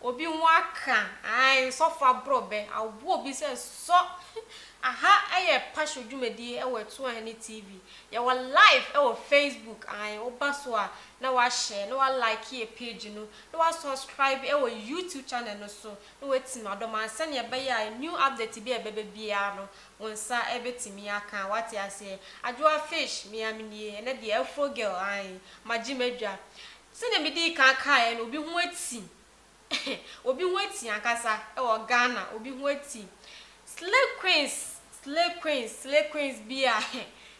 Obi ho aka ae nsɔfo aborɔ bɛ awobo obi sɛ sɔ aha ɛyɛ pasho dwumadie ɛwɔ ɛto ahene TV yɛwɔ live ɛwɔ Facebook ae woba so a na wa share na wa like yɛ page no na wa subscribe ɛwɔ YouTube channel no so na wa tim adɔm a sɛnea ɛbɛyɛ a new update bi a ɛbɛbɛ biara no wo nsa ɛbɛ tumi aka wate aseɛ Adwoa fish mea menie ɛnɛ deɛ Afro girl ae magye madwa Sɛdeɛ medii kan kaeɛ no, obi ho ati. Obi ho ati ankasa wɔ Ghana. Obi ho ati. Slay queens, slay queens, slay queens bi a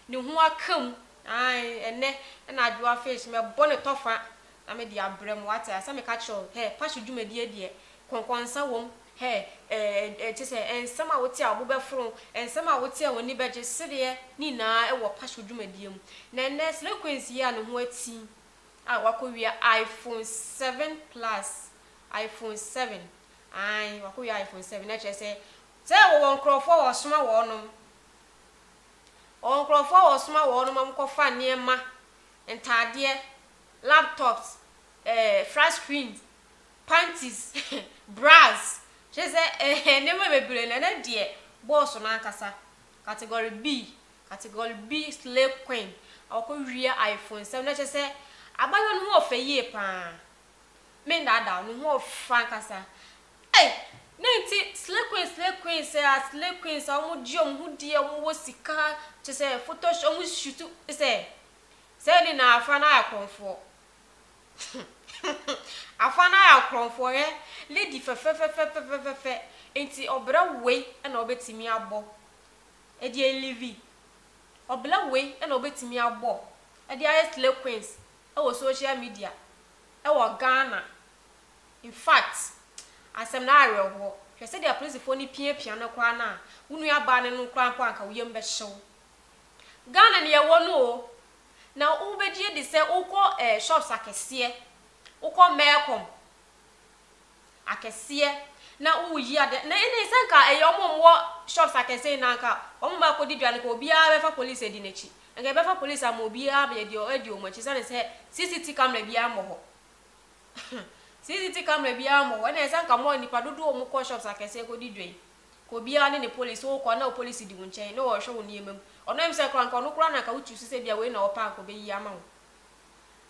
ne ho aka mu. Ae, ɛnnɛ na Adwoa Fish mɛbɔ ne tɔfa na mede abrɛ mo. Wate aseɛ? Meka kyerɛ wo, hɛ, Passion dwumadie deɛ, kɔnkɔnsa wom. Hɛ, ɛɛ, kyerɛ sɛ, nsɛm a wote a wo bo bɛforo, nsɛm a wote a w'ani bɛgye, sereɛ, ne nyinaa wɔ Passion dwumadie mu. Na ɛnnɛ, slay queens yi a ne ho ati a wakowia iPhone seven plus iPhone seven ae wakowia iPhone seven na kyerɛ sɛ sɛ wɔwɔ nkorɔfoɔ a wɔsoma wɔnom wɔwɔ nkorɔfoɔ a wɔsoma wɔnom ma wɔkɔfa nneɛma ntaadeɛ laptops ɛɛ eh, flat screens panties bras kyerɛ sɛ ɛɛ nneɛma bebree na ɛnɛ deɛ bɔɔso no ankasa category B Category B Slay Queen a ɔkɔwia ayefonsɛm no kyerɛ sɛ abaayewa no ho yɛ fɛ yie pa ara. Mennaadaa wo, ne ho yɛ fɛ ankasa. Ei! Dɛn nti Slay Queen, Slay Queens a, Slay Queens a wɔgye wɔn ho di a wɔwɔ sika, kyerɛ sɛ photo sh wɔshutu sɛ saa nyinaa afra no ayɛ akorɔmfoɔ. Afra no ayɛ akorɔmfoɔ, hwɛ lady fɛfɛfɛfɛfɛfɛfɛ nti ɔbrɛ wei na wobɛtumi abɔ. Ɛdeɛn Livi? Ɔbla wei na ɔbɛtumi abɔ de ayɛ slay queens wɔ social media wɔ Ghana? Infact asɛm no awerɛhoɔ, hwɛ sɛdeɛ apolisifoɔ no piapia no koraa no a, wo nuabaa no no koraa mpo anka wo yam bɛhye wo. Ghana na yɛwɔ no o, na wobɛgye adi sɛ wokɔ eh shops akɛseɛ, wokɔ Melcom, akɛseɛ na wowo yi adeɛ na ɛnɛ sɛ nka ɛyɛ wɔn a wɔwɔ shops akɛseɛ nyinaa nka wɔn ba kɔdi dwa no nka obiara bɛfa police adi n'akyi nka yɛbɛfa police ama obiara bɛyɛ deɛ ɔdi wɔn akyi sane sɛ CCT camera biara mmɔ hɔ CCT camera biara mmɔ hɔ ɛnɛ sɛ nka mɔ nipa dodoɔ wɔn kɔ shops akɛseɛ kɔdi dwa yi nka obiara ne ne police wokɔ na wo police di wo nkyɛn na wɔhwɛ wo nneɛma mu ɔno ɛm sɛ kora nka ɔno kora na nka wotu so sɛ bia wei na wɔpɛ anka ɔbɛyi ama wo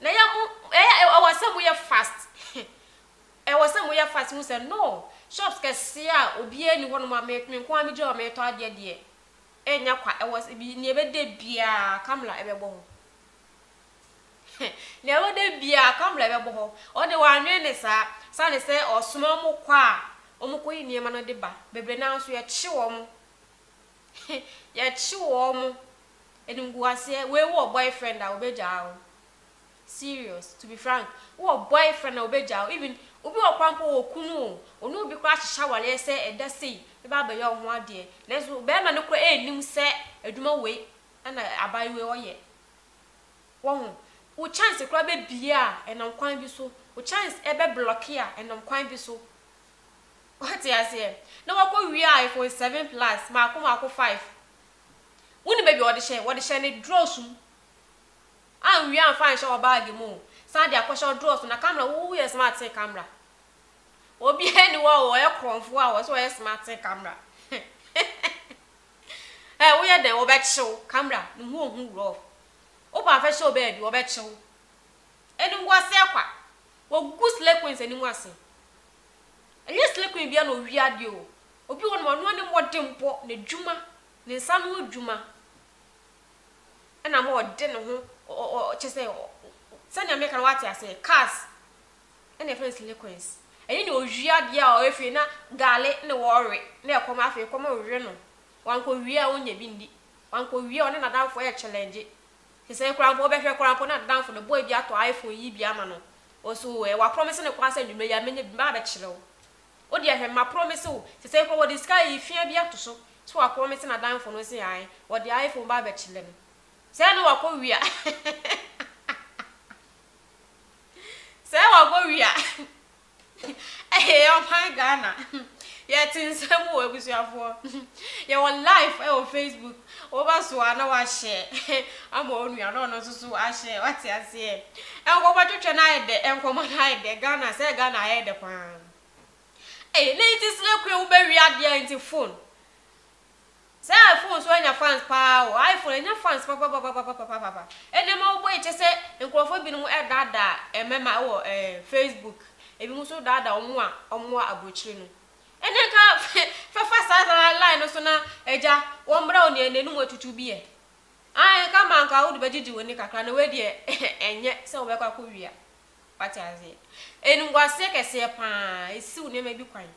na yɛ mo ɛyɛ ɛwɔ sɛ mo yɛ fast Ɛwɔ sɛ moyɛ fast hu sɛ no shops kɛseɛ a obiara nni hɔ nom a me nko ara megyina hɔ meretɔ adeɛ deɛ ɛnyɛ kwa ɛwɔ sɛ bi nea ɛbɛda biara Kamla ɛbɛbɔ hɔ heh nea ɛbɛda biara Kamla ɛbɛbɔ hɔ ɔde wannwene ne saa sane sɛ ɔsoma wɔn kɔ a wɔn kɔyi nneɛma no de ba bebree no ara nso yɛkye wɔn heh yɛkye wɔn animguaseɛ wei wowɔ boyfriend a ɔbɛgyaa wo serious to be frank wo wɔ boyfriend a obegyaa wo even obi wɔ kwan mpo wɔ kunu o ɔne obi koraa ahyehyɛ awareɛ sɛ ɛda sei bɛba abɛyɛ wo ho adeɛ nanso barima no koraa ɛnnim sɛ adwuma wei ɛna abayewa yi ɔyɛ wahu wo chance koraa bɛbie a ɛnam kwan bi so wo chance ɛbɛ blocke a ɛnam kwan bi so ɔte aseɛ na wakɔ wie a iPhone 7 plus maako maako 5 wone baabi a wɔde hyɛ wɔde hyɛ ne draws mu. Anwie amfa anhyɛ wɔ bag mu o san de akɔhyɛ ɔdɔɔso na camera wo wo yɛ smartee camera obiaa ni hɔ a ɔyɛ korɔnfoɔ a ɔsɛ ɔyɛ smartee camera eh wo yɛ dɛn wɔ bɛ kyew camera ne ho ohu rough wo paa fɛ hyɛ wɔ baabi wɔ bɛ kyew ɛni wo aseɛ kwa wɔ gu slay queens ɛni mu ase ɛnyɛ slay queen bia na owie adeɛ o obi wɔ nom ɔno ani mmɔden bɔ na dwuma ne nsa no dwuma Ɛna ma ɔde ne ho ɔ ɔ kyɛ sɛ ɔ sɛnea meka no wate aseɛ cars ɛna yɛfrɛ no silicones ɛne nea ɔwie adeɛ a ɔyɛ fie na gaale na wɔrewe na ɛkɔm afei ɛkɔm rewe no wankɔwie a ɔnnya bi nni wankɔwie a ɔne n'adamfo rekyɛlɛngye sesei koraa mpo wobɛhwɛ koraa mpo na n'adamfo no boy bi atɔ iPhone yi bi ama no ɔse oo ɛɛ waprɔmise no koraa sɛ anwummerɛ yi a mɛnya bi mɛba abɛkyerɛ wo Wo deɛ hwɛ, ma promise wo, sesei koraa wɔde sika ayi fea bi ato so sɛ wa promise n'adamfo no se ae, wɔde iPhone ba abɛkyele no. Sɛɛ ne wakɔ wia. Sɛɛ wakɔ wia. Eeh ɔman Ghana. Yɛte nsɛm o abusuafoɔ. Yɛwɔ live ɛwɔ Facebook. Wobɛsoa na woahyɛ ama wo nua na ɔno nso so ahyɛ, woate aseɛ. Nkɔmmɔtwetwe no ayɛ dɛ, nkɔmmɔ no ayɛ dɛ, Ghana, sɛ Ghana ayɛ dɛ pa ara. Ei, na nti slay queen wobɛwie adeɛ a nti phone. Sɛ iPhone nso anya fans pa ara o, iPhone anya fans papapapapapapapa. Ɛnnɛ ma wobɔ yi kyɛ sɛ nkurɔfoɔ binom daadaa mmɛma wɔ ɛɛ Facebook, ebinom nso daadaa wɔn a wɔwɔ abrokyire no. Ɛnde nka fɛfa saa saa line no so na Agya wɔmmrɛ wo nea n'anum atutu bi ɛ. Ae, nka ma nka wode bɛgyegye w'ani kakra na wei deɛ ɛnyɛ sɛ wobɛkɔ akɔwia. Wate aseɛ? Animguaseɛ kɛseɛ pa ara, ɛsiw nneɛma bi kwan.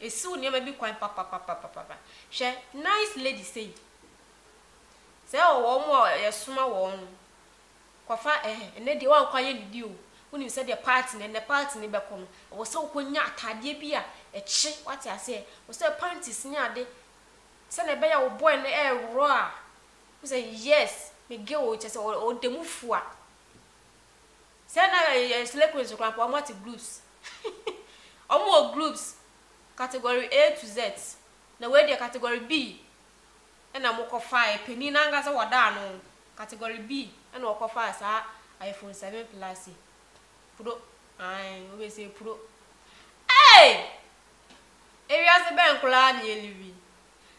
Ɛsiw nneɛma bi kwan papapapapapa. Hwɛ nice lady sei. Sɛ wɔn a yɛsoma wɔn no, Kɔfa ɛ, ɛnɛ deɛ woankɔ ayɛ ne bi o, wonim sɛdeɛ party no, ɛnɛ party no bɛkɔ no, ɛwɔ sɛ wokɔ nya ataadeɛ bi a ɛkye, woate aseɛ, ɛwɔ sɛ panties ne ade, sɛdeɛ ɛbɛyɛ a wo boy no ɛreworo a, wohu sɛ yes, me girl o, kyerɛ sɛ ɔ, ɔda mu fua. Sɛ na ɛ, ɛ, slay queens koraa mpo, wɔate groups, wɔwɔ groups, category A to Z, na wei deɛ category B. na mokɔfaeɛ, panin no ankasa wɔdaa no category B na ɔkɔfaa saa iPhone 7 plus yi. Puro, ae, wobɛsɛ puro. Ei! Ewiase bɛn koraa na yɛlive yi?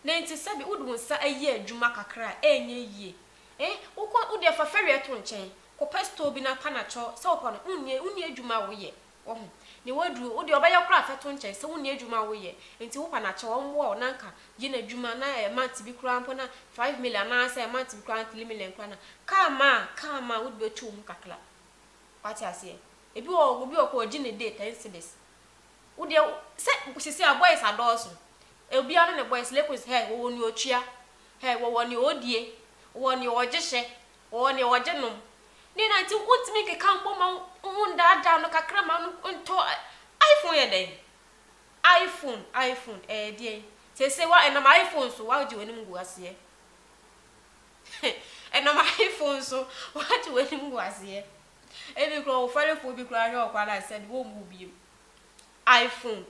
Na enti sɛbi wode wo nsa ayi adwuma kakra a, ɛnyɛ yie. Eh, wokɔ, wodeɛ fa fɛreɛ to nkyɛn, kɔpɛ store bi na panatɔ, sɛ wopɛ no, wonni, wonni adwuma a woyɛ, Wahu. Ne waduru. Wo deɛ ɔbɛyɛ koraa fɛ to nkyɛn sɛ wonni adwuma a woyɛ nti wopɛ no akyɛ ɔmmoa wo na nka gye n'adwuma na ɛyɛ month bi koraa mpo na five million anaa sɛ month bi koraa na three million koraa na car ma a car ma a wode bɛtu wo ho kakra wate aseɛ ebi wɔ hɔ obi wɔ hɔ koraa ɔgye ne day ten cedis wo deɛ sɛ sisi a boys adɔɔso obiara ne ne boys lekos hɛ wɔwɔ nea ɔtua hɛ wɔwɔ nea ɔdie wɔwɔ nea ɔgye hyɛ Wɔwɔ nea wɔgye nom. Nea na nti wontumi nkeka mbɔ ma wo ho ndaadaa no kakra ma no ntɔ iPhone yɛ dɛn? iPhone, iPhone, ɛyɛ deɛn? Seesei wa ɛnam iPhone so wagye w'anim gu aseɛ. ɛnam iPhone so wagye w'anim gu aseɛ. Ebi koraa ɔwofarifoɔ bi koraa hwɛ ɔkwan a sɛde wɔmmu wo biom. iPhone.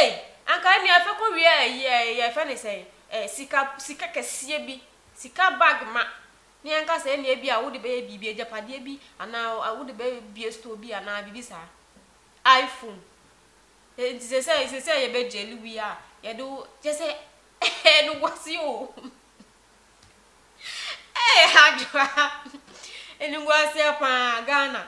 Ei anka ɛnneɛ afɛ kɔ wie a yɛ yɛfɛ ne sɛn ɛ sika sika kɛseɛ bi sika bag ma ne yɛnka sɛ ɛnneɛ bi a wode bɛyɛ biribi agyapadeɛ bi anaa wode bɛ bie store bi anaa biribi saa iPhone nti sɛ sɛ sɛ sɛ yɛbɛ gyeli wie a yɛde wo kyɛ sɛ ɛɛ no guase o ɛɛ adwoa ɛni guaseɛ paa Ghana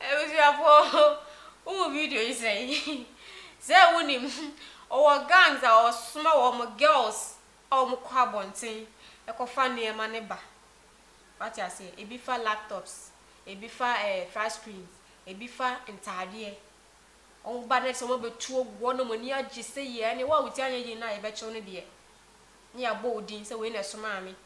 Abusuafoɔ wohu video yi sɛn? Sɛ wonim ɔwɔ gangs a ɔsoma wɔn girls a wɔn kɔ abɔnten kɔfa nneɛma no ba wate aseɛ ebi fa laptops ebi fa ɛɛ eh, flat screens ebi fa ntaadeɛ wɔn ba no sɛ wɔn abɛtu agu hɔ nom ani agye sɛ yie ɛne wo a wotia nyɛ yie no a yɛbɛkyew no deɛ ne yɛabɔ wo din sɛ wei na ɛsomaa me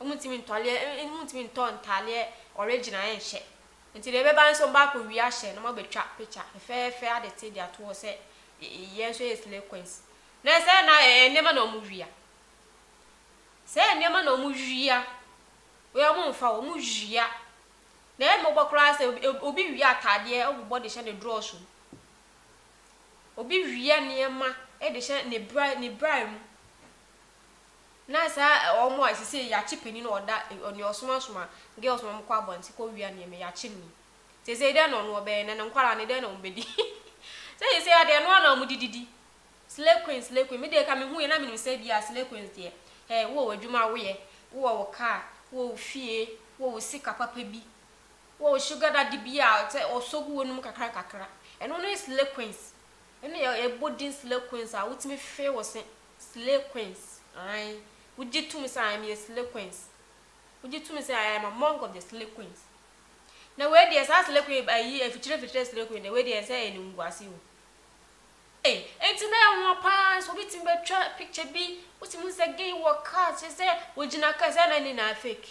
Wɔntumi ntɔleɛ wɔntumi ntɔ ntaadeɛ original nhyɛ nti deɛ ɛbɛba nso wɔba akɔ wia ahyɛ na wɔn abɛtwa picture fɛfɛɛfɛ ade te de ato hɔ sɛ yɛn nso yɛ slay queens na sɛ na ɛɛ nneɛma na wɔn wia sɛ nneɛma na wɔn wia wei wɔn nfa wɔn wia na ɛyɛ mmɔbɔ koraa sɛ obi wia ataadeɛ ɔbobɔ de hyɛ ne draw so obi wia nneɛma de hyɛ ne bra ne bra mu. na saa ɛ wɔn a sisei yɛakye panin a ɔda ɛ nea ɔsomasoma girls ma wɔkɔ abɔnten kɔ wia nneɛma yi yɛakye no yi sisei dɛn na ɔno ɔbɛyɛ na ne nkwadaa no dɛn na wɔbɛdi sɛ sisei adeɛ ɛno ara na wɔde didi slay queen slay queen me deɛ ka mehu yɛ na menim sɛ bi a slay queens deɛ hɛ wowɔ w'adwuma woyɛ wowɔ wo car wowɔ wo fie wowɔ wo sika papa bi wowɔ wo sugar daddy bi a sɛ ɔsɔ gu w'anom kakra nkakra ɛno ne slay queens ɛne yɛ yɛbɔ din slay queens a wotumi fe wo se Slay queens ae wogye tom sɛ ae meyɛ slay queens wogye tom sɛ ae I'm among of the slay queens na wei deɛ saa slay queen ayi afikyire fikyire slay queen deɛ wei deɛ ɛnsɛ ɛyɛ animguase o ei enti na ɛnwa paa nso obi tumi bɛtwa picture bi wosi mu sɛ gay wɔ car kyerɛ sɛ wogyina car sɛ na ne na fake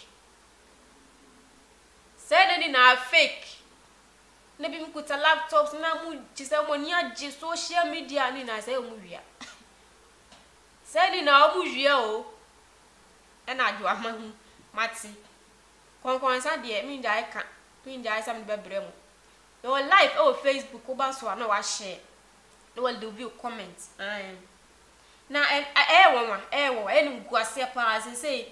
sɛ na ne na fake na binom kuta laptops na mu gye sɛ wɔn ani agye social media ne nyinaa sɛ wɔn wia sɛ ne nyinaa wɔn wia o ɛna adwo ama ho mate kɔnkɔnsa deɛ mengyae ka mengyae sɛ mede bɛbrɛ mu na wɔ live ɛwɔ facebook woba so a na wahyɛ na wɔ de view comment ae na ɛyɛ wɔn wa ɛyɛ wɔn wa ɛyɛ no gu aseɛ paa sɛ sɛ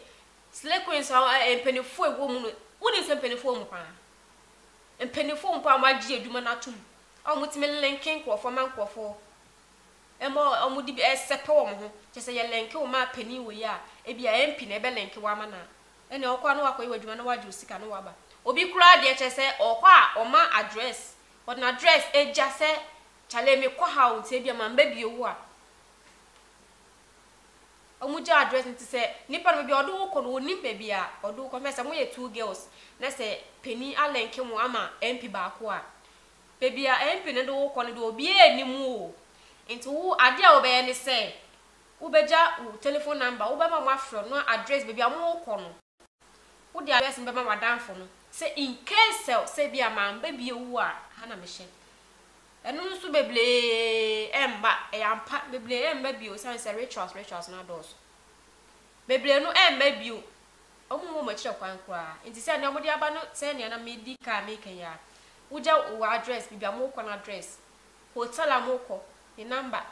slay queens a mpanimfoɔ ɛwɔ mu no wonim sɛ mpanimfoɔ mu paa mpanyimfo mpo a wɔagye adwuma no atom a wɔtumi lenke nkurɔfo ma nkurɔfo ma wɔde bi sɛpɛ wɔn ho. Kyerɛ sɛ yɛlenke wo ma panyin wei a, ebia MP na ɛbɛlenke wo ama no a, ɛnna wokɔ a na woakɔyɛ w'adwuma na woagye wo sika na woaba. Obi koraa deɛ, kyerɛ sɛ ɔkɔ a ɔma address, ɔde n'address gya sɛ kyale mekɔ ha o, nti ebia mammɛbio wo a. Ɔmo gya address no te sɛ nipa no baabi a ɔde wo kɔ no ɔnim baabi a ɔde wo kɔ hwɛ sɛ mo yɛ two girls na sɛ panin a link mo ama MP baako a baabi a MP no de wo kɔ no deɛ obiara nim wo o nti wo adeɛ a wobɛyɛ ne sɛ wo bɛgya wo telephone number wo bɛma ɔmo afrɛ wo na address baabi a mo kɔ no wo de address no bɛma w'adanfo no sɛ in case sɛ sɛ bi a mamma bi ewu a ha na me hyɛ. Ɛno nso bebree mma. Ɛyɛ ampa, bebree mma bio esiane sɛ rituals rituals no adɔɔso. Bebree no mma bio, wɔmmɔ wɔn akyiri kwan koraa. Enti sɛ nea wɔde aba no, sɛɛ nea na medi kan reka yi ara. Wogya wo address, baabi a morekɔ no address, hotel a morekɔ ne number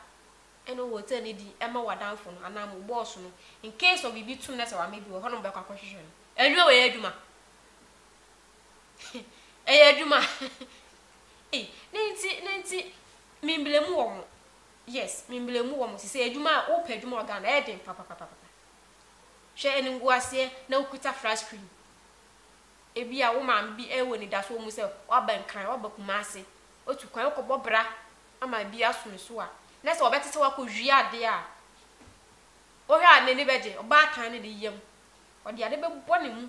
ne hotel no din ma w'adamfo no anaa mo boss no, in case of biribi to no na sɛ wamma bi wɔ hɔ na wɔbɛkɔ akɔhwehwɛ no. Adwuma wei yɛ adwuma. Ɛyɛ adwuma. Ei, ne nti, ne nti, memblemu wɔn. Yes, memblemu wɔn. Te sɛ adwuma a wopɛ adwuma wɔ Ghana, ɛyɛ den papapapapa. Hwɛ animguaseɛ na wokuta flat screen. Ebi a wo maame bi ɛwɔ anidasoɔ mu sɛ waba Nkran, waba Kumase, otu kwan wokɔbɔ bra ama ebi aso ne so a, na sɛ ɔbɛte sɛ wakɔwie adeɛ a, wohwɛ a n'ani bɛgye? Ɔbaatan no de yam. Ɔde ade bɛbɔ ne mu.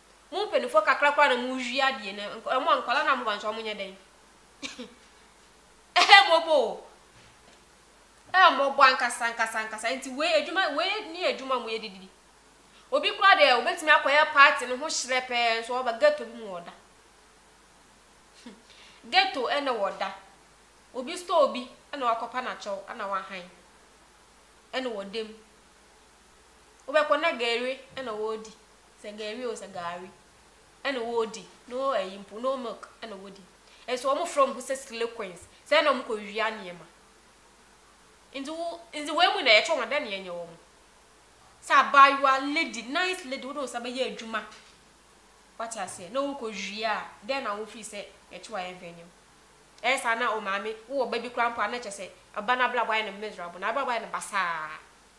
Mo mpaninfoɔ kakra koraa na mo wie adeɛ na nk mo a nkwadaa no a mo ba nso ɔmo nyɛ dɛn? Ɛyɛ mɔbɔ o! Ɛyɛ mɔbɔ ankasa ankasa ankasa nti wei adwuma wei ne adwuma a mo yɛ de didi. Obi koraa deɛ obetumi akɔ yɛ party no ho hyerɛ pɛɛ nso ɔba ghetto bi mu ɔda. Ghetto ɛna wɔ da. Obi store bi ɛna wakɔ pa na kyɛw ɛna wahan ɛna wɔ da mu. Wobɛkɔ na gɛɛre ɛna ɔɔdi. Sɛ gari o, sɛ gari ɛna wɔɔdi, no ɛyi mpo, no milk ɛna wɔɔdi. Nso wɔn frɛ wɔn ho sɛ slay queens, sɛ ɛna wɔn kɔ wia nneɛma. Nti wo, nti wei mu na yɛkyɛ wɔn, dɛn na yɛnyɛ wɔn? Sɛ abaayewa, lady, nice lady, wode wo nsa bɛyɛ adwuma, wate aseɛ, na wo kɔ wia a, dɛn na wo feel sɛ yɛkyɛ wo a yɛmfa nyɛ wo? Ɛyɛ saa na o maame, wo wɔ ba bi koraa mpo a na kyerɛ sɛ, ba no abrabɔ ayɛ no miserable, n'abrabɔ ayɛ no basaa,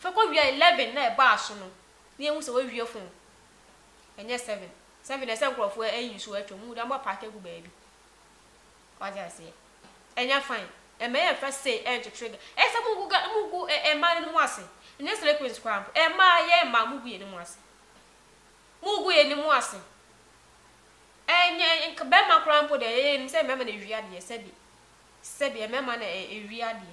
Fa kɔ wia eleven na ɛba aso no na yɛhu sɛ wawie fon ɛnyɛ seven seven na ɛsɛ nkorɔfoɔ ayi nsuo atwa mu wode ama paake agu baabi wate aseɛ ɛnyɛ fine ɛmɛ yɛ mfa sei ɛnkyekyere ga ɛyɛ sɛ mugu ga mugu ɛ ɛmaa no mu ase ɛnyɛ slay queens koraa mpo ɛmaa yɛ ɛmaa mugu yɛ no mu ase mugu yɛ no mu ase ɛnyɛ nka bɛrima koraa mpo deɛ yɛyɛ nim sɛ mɛma na ɛwi adeɛ sɛbi sɛbi ɛmɛma na ɛwi adeɛ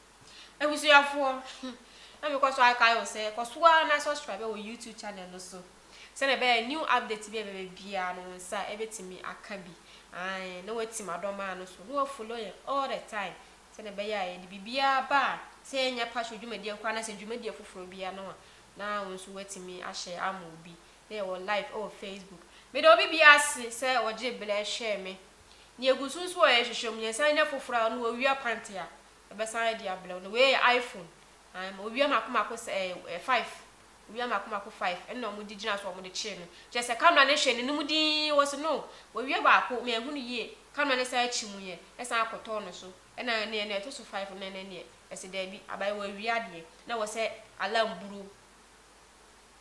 Abusuafoɔ, na me kɔ so akae wo sɛ kɔ so ara na subscribe wɔ YouTube channel no so sɛdeɛ ɛbɛyɛ a new update bi a ɛbɛba biara no wo nsa bɛtumi aka bi. Ae, na woati m'adɔmaa no so na woafollow yɛn all the time sɛdeɛ ɛbɛyɛ a yɛde biribiara ba a, sɛ ɛnyɛ Pacho dwumadie nko ara anaasɛ dwumadie afoforɔ biara no a, na wo nso woatumi ahyɛ ama obi. Na yɛwɔ live wɔ Facebook. Meda obi biara ase sɛ ɔgyee berɛ hwɛɛ me. Deɛ ɛgu so nso a yɛhwehwɛ mu, yɛsan nya foforɔ a, ɔno wɔawia pante a, Ɛbɛsan de abrɛ wo. Na wei yɛ iPhone. Ae, ma owia mako mako sɛ ɛɛ ɛɛ five. Owia mako mako five ɛna wɔn de gyina so a wɔn de kyerɛ no. Kyerɛ sɛ camera no hwɛ n'anim dinn, wɔsi no, owia baako me anhu no yie, camera no san kyi mu yɛ, ɛsan akɔtɔ no so. Ɛna ɛneɛ na ɛto so five no na ɛnɛ neɛ, ɛsi daabi, abae wɔawia deɛ, na ɛwɔ sɛ alarm buro.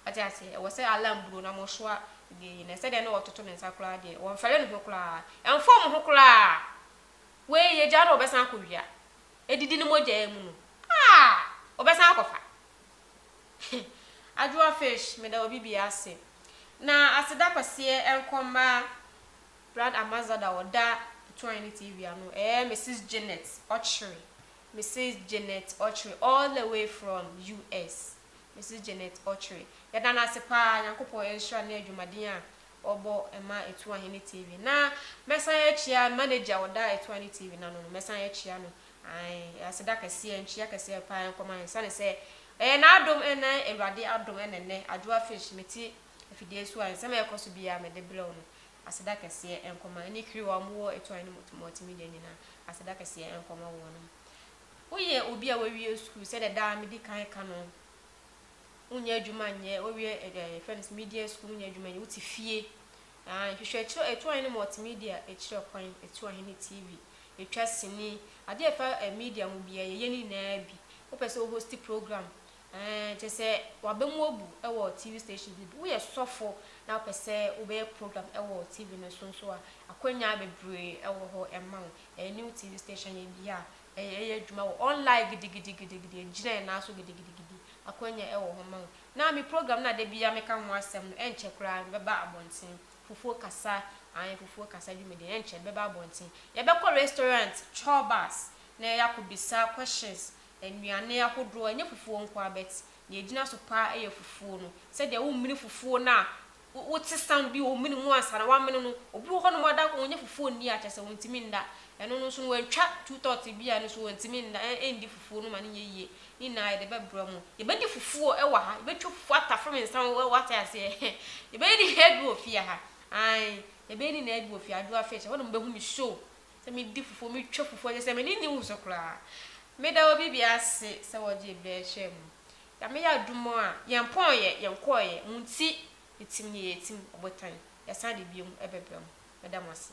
Wate aseɛ? Ɛwɔ sɛ alarm buro na wɔn soa deɛ yi. Na sɛdeɛ na ɔtoto ne nsa koraa deɛ, wɔn fɛre ne ho koraa. Ɛnfɔm ho koraa. Wei yɛ gya no a ɔbɛsan akɔ wia ɛdidi ne mogya yi mu no aa ɔbɛsan akɔfa he Adwoa fish meda wɔ bi biaa ase na aseda kɛseɛ nkɔ mma brad amazada ɔda tuan ne TV ano ɛɛ Mrs Janet ɔkyere Mrs Janet ɔkyere all the way from US Mrs Janet ɔkyere yɛda no ase paa Nyankopɔn nhyira ne adwumaden a wɔbɔ ma Etuah he ne TV. Na mɛsan akyia manager a ɔda Etuah ne TV no ano no, mɛsan akyia no. Ae, aseda kɛseɛ, nkyia kɛseɛ paa nkɔma he, esiane sɛ ɛyɛ n'adom ne Awurade adom na nnɛ Adwoa Fish mete afidie so a nsɛm a ɛrekɔ so biaa mede brɛ wo no. Aseda kɛseɛ nkɔma ne crew a wɔwɔ Etuah he ne Multimedia nyinaa. Aseda kɛseɛ nkɔma wɔnom. Woyɛ obi a wawie sukuu sɛdeɛ daa medi kan ka no. wonyɛ adwuma nyɛ, wowie ɛɛ deɛ yɛfrɛ no sɛ media school wonyɛ adwuma nyɛ, wote fie. Ae, nhwehwɛ akyire, ɛtu ahene multimedia akyire kwan, ɛtu ahene TV, ɛtwa sini, adeɛ a ɛfa ɛɛ media ho biara yɛyɛ ne nyinaa bi. Wopɛ sɛ wo hosti program, ɛɛ kyerɛ sɛ w'aba mu abu wɔ TV stations no bi, woyɛ sɔfo na wopɛ sɛ wobɛyɛ program wɔ TV no so nso a, akwannya bebree wɔ hɔ ma wo, ɛɛ new TV station yɛ bi a, Yɛyɛ adwuma wɔ online gidigidigidigidi, ɛgyina yɛn nan so gidigidigidi. Akwanya wɔ hɔ ma wo. Ná me program no a da biara meka ho asɛm no, ɛnkyɛ koraa ɛbɛba abɔnten. Fufuo kasa, aane, fufuo kasa dwumadie no, ɛnkyɛ ɛbɛba abɔnten. Yɛbɛkɔ restaurant, tour bus, na yɛyɛ akɔbisa questions, nnuane ahodoɔ, ɛnyɛ fufuo nko ara, but deɛ ɛgyina so pa ara yɛ fufuo no. Sɛdeɛ womene fufuo no a, Wo wote sa no bi omene mu ansa na wamene no obi wɔ hɔ nom ɔda ko ɔnyɛ fufuo nni a kyɛsɛ ɔntimi nda ɛno no nso no wantwa two thirds bi a ɛno nso ɔntimi nda ɛ ɛndi fufuo no ma no nyɛ yie ne nyinaa yɛde bɛbrɛ mo yɛbɛdi fufuo ɛwɔ ha yɛbɛtwa fufuo atafre me nsa wo wate aseɛ yɛbɛyɛ ne nyinaa bi wɔ fie ha ae yɛbɛyɛ ne nyinaa bi wɔ fie adwoa fish ɛhɔ nom bɛhu me so sɛ medi fufuo metwa fufuo kyɛsɛ m'ani nni wo so koraa meda obi bia ase sɛ wɔgye brɛ hwɛ mu Nyame yɛ adum a yɛn pɔn yɛ yɛn kɔɔ yɛ mu nti yɛtim neɛ yɛtim ɔbotan yɛsan de biom bɛbra mu meda mo ase.